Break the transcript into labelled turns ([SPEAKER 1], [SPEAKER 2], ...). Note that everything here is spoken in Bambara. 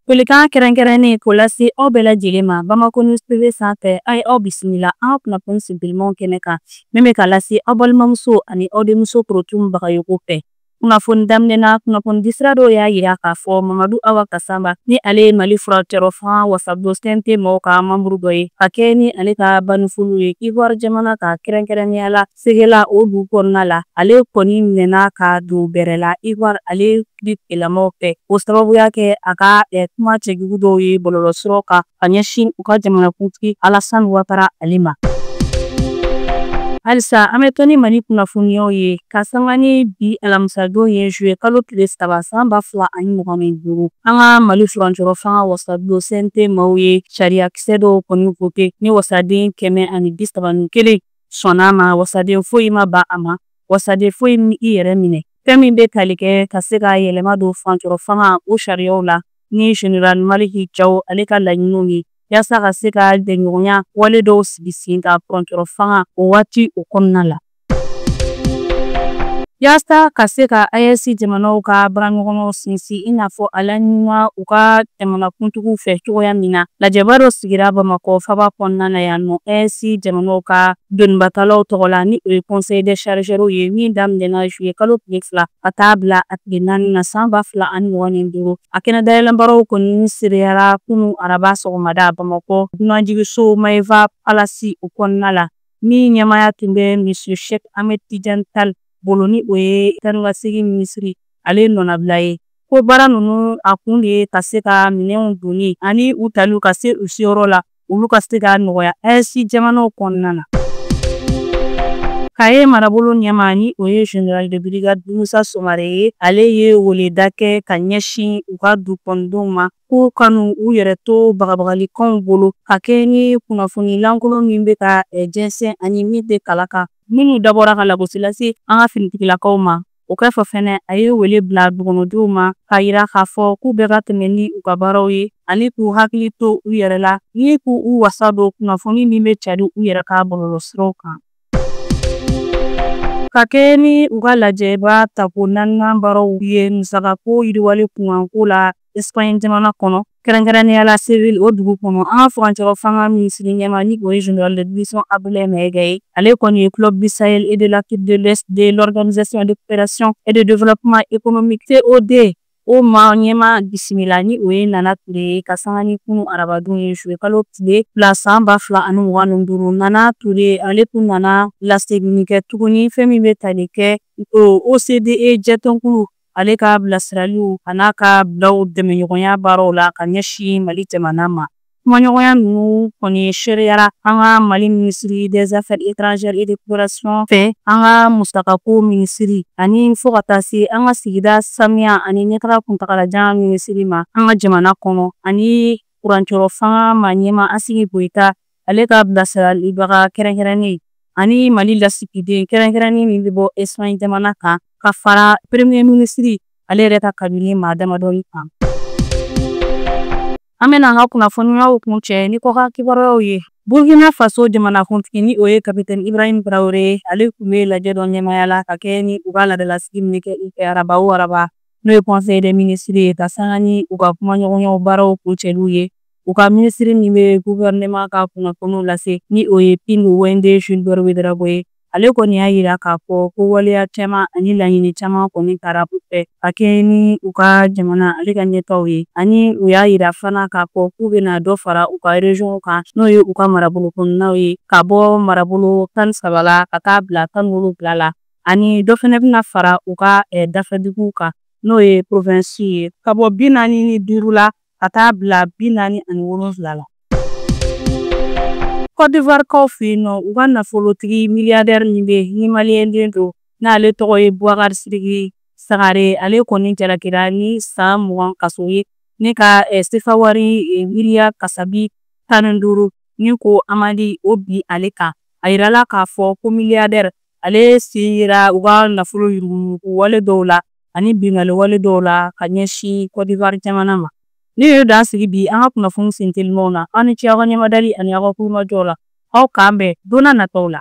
[SPEAKER 1] Folikan kɛrɛnkɛrɛnnen k'o lase aw bɛɛ lajɛlen ma Bamako News TV sanfɛ a ye aw bisimila an ka kunnafoni sinpilimanw kɛnɛ kan min bɛ ka lase aw balimamuso ani aw denmuso Korotumu Bagayoko fɛ. Kunnafoni daminɛ na, kunnafoni disira dɔw y'a jira k'a fɔ Mamadu Awa Gasama ni ale ye Mali furancɛyɔrɔ fanga wasabulon CNT mɔgɔw ka manburu dɔ ye, ka kɛɲɛ ni ale ka bannifoliw ye Ivoire jamana kan, kɛrɛnkɛrɛnnenya la segela o dugu kɔnɔna la ale kɔni minɛna ka don bɛrɛ la ivoire ale di tigilamɔgɔw fɛ o sababuya kɛ a ka eh, kuma cɛjugu dɔw ye bɔlɔlɔsiraw kan ka ɲɛsin u ka jamanakuntigi alasani watara ale ma halisa an bɛ to ni mali kunnafoniyaw ye ka sanga ni bi alamisadon ye zuye kalo tile saba san ba fila ani mugan ni duuru an ka mali furancɛyɔrɔ fanga wasabulon CNT maaw ye sariyakisɛ dɔw kɔni vote ni wasaden kɛmɛ ani bisaba ni kelen sɔnna a ma wasaden foyi ma ban a ma wasaden foyi m'i yɛrɛ minɛ fɛn min bɛ tali kɛ ka se ka yɛlɛma don furancɛyɔrɔ fanga o sariyaw la ni general maliki jaw ale ka laɲiniw ye yaasa ka se ka bɛnɲɔgɔnya wale dɔw sigi sen kan furancɛyɔrɔ fanga o waati o kɔnɔna la yaasa ka se ka AES jamanaw ka baaraɲɔgɔnyaw sinsin i n'a fɔ a laɲinina u ka jamanakuntigiw fɛ cogoya min na lajɛba dɔ sigira bamakɔ faba kɔnɔna na yan nɔ AES jamanaw ka donibatalaw tɔgɔ la ni o ye conseil des chargeurs ye min daminɛna juillet kalo tile fila ka taa bila a tile naani na san ba fila ani mugan ni duuru a kɛnɛ dayɛlɛnbaaraw kɔni seereyara kunun araba sɔgɔmada bamakɔ dunanjigiso maeva palasi o kɔnɔna la min ɲɛmaaya tun bɛ monsieur sheikh ahmed tijan tal bolo ni o ye taa ka segin minisiri ale nɔnabila ye ko baara ninnu a kun de ye ka se ka minɛnw donni ani u taliw ka se u seyɔrɔ la olu ka se ka nɔgɔya AES jamanaw kɔnɔna na kaye marabolo ɲɛmaa ni o ye general de brigade musa sumare ye ale ye weleda kɛ ka ɲɛsin u ka dugukɔnɔdenw ma k'u kana u yɛrɛ to bagabagalikanw bolo ka kɛɲɛ ni kunnafoni lankolon min bɛ ka jɛnsɛn ani min tɛ kala kan minnu dabɔra ka lagosi lase an ka finitigilakaw ma O kɔfɛ fɛnɛ a ye wele bila dugukɔnɔdenw ma k'a yira k'a fɔ k'u bɛɛ ka tɛmɛ ni u ka baaraw ye ani k'u hakili to u yɛrɛ la ni k'u wasa don kunnafoni min bɛ cari u yɛrɛ ka bɔlɔlɔsiraw kan ka kɛɲɛ ni u ka lajɛba tako naaninan baaraw ye musakako yiriwali kunkanko la Espagne jamana kɔnɔ kɛrɛnkɛrɛnnenya la Séville o dugu kɔnɔ an ka furancɛyɔrɔ fanga minisiri ɲɛmaa ni o ye général de division Abdoulaye Maïga ye ale kɔni ye club du Sahel et de l'Afrique de l'Ouest de l'organisation de coopération et de développement économique COD o maa ɲɛmaa bisimila ni o ye Nana Ture ye ka sanga ni kunun arabadon ye juillet kalo tile fila san ba fila ani mugan ni duuru Nana Ture ale tun nana laseginni kɛ tuguni fɛn min bɛ tali kɛ OCDE jɛtɔnkulu ale ka bilasiraliw a n'a ka bilaw dɛmɛɲɔgɔnya baaraw la ka ɲɛsin Mali jamana ma. Kumaɲɔgɔnya ninnu kɔni seereyara an ka Mali minisiri des affaires étrangères et de coopération fɛ, an ka musakako minisiri ani fo ka taa se an ka sigida sanuya ani ɲɛtaga kuntagalajan minisiri ma an ka jamana kɔnɔ ani furancɛrɔ fanga maa ɲɛmaa Asimi Goyita ale ka bilasiralibaga kɛrɛnkɛrɛnnen ani mali lasigiden kɛrɛnkɛrɛnnen min bɛ bɔ Espagne jamana kan ka fara peremiye minisiri ale yɛrɛ ka kabinɛ maa damadɔni kan an bɛna an ka kunnafoniyaw kuncɛ ni kɔkan kibaruyaw ye burkina faso jamanakuntigi ni o ye kapitɛni ibrahim tarawele ye ale tun bɛ lajɛ dɔ ɲɛmaya la ka kɛɲɛ ni u ka laadalasigi min kɛ u fɛ araba o araba n'o ye conseil des ministres ye ka sanga ni u ka kumaɲɔgɔnyaw baaraw kuncɛliw ye u ka minisiri min bɛ guvɛrɛnɛman ka kunnafoniw lase ni o ye Pingdwendé Gilbert Ouédraogo ye ale kɔni y'a yira k'a fɔ ko waleya caman ani laɲini caman kɔni tara u fɛ ka kɛɲɛ ni u ka jamana ale ka ɲɛtaaw ye ani u y'a yira fana k'a fɔ k'u bɛna dɔ fara u ka reziyɔnw kan n'o ye u ka marabolo kɔnɔnaw ye ka bɔ marabolo tan ni saba la ka taa bila tan ni wolonwula la ani dɔ fana bɛna fara u ka eh, dafɛduguw kan n'o ye provensi ye ka bɔ bi naani ni duuru la ka taa bila bi naani ani wolonwula la. Kɔdivuwarikaw fɛ yen nɔ, u ka nafolotigi miliyadɛri min bɛ yen ni maliyɛnden don n'ale tɔgɔ ye Boubacar Sidiki Sangare, ale kɔni jalakira ni san mugan kaso ye ani ka sefawari miliyari kasabi tan ni duuru ni ko amandi o bin ale kan. A jirala k'a fɔ ko miliyadɛri ale sen yera u ka nafolo yuruguyurugu wale dɔw la ani binkanni wale dɔw la ka ɲɛsin Cote d'Ivoire jamana ma. Nin ye dan sigi bi an ka kunnafoni sentelimaw na, aw ni ce aw ka ɲɛmadali ani aw ka tulomajɔw la. Aw k'an bɛn don n'a nataw la.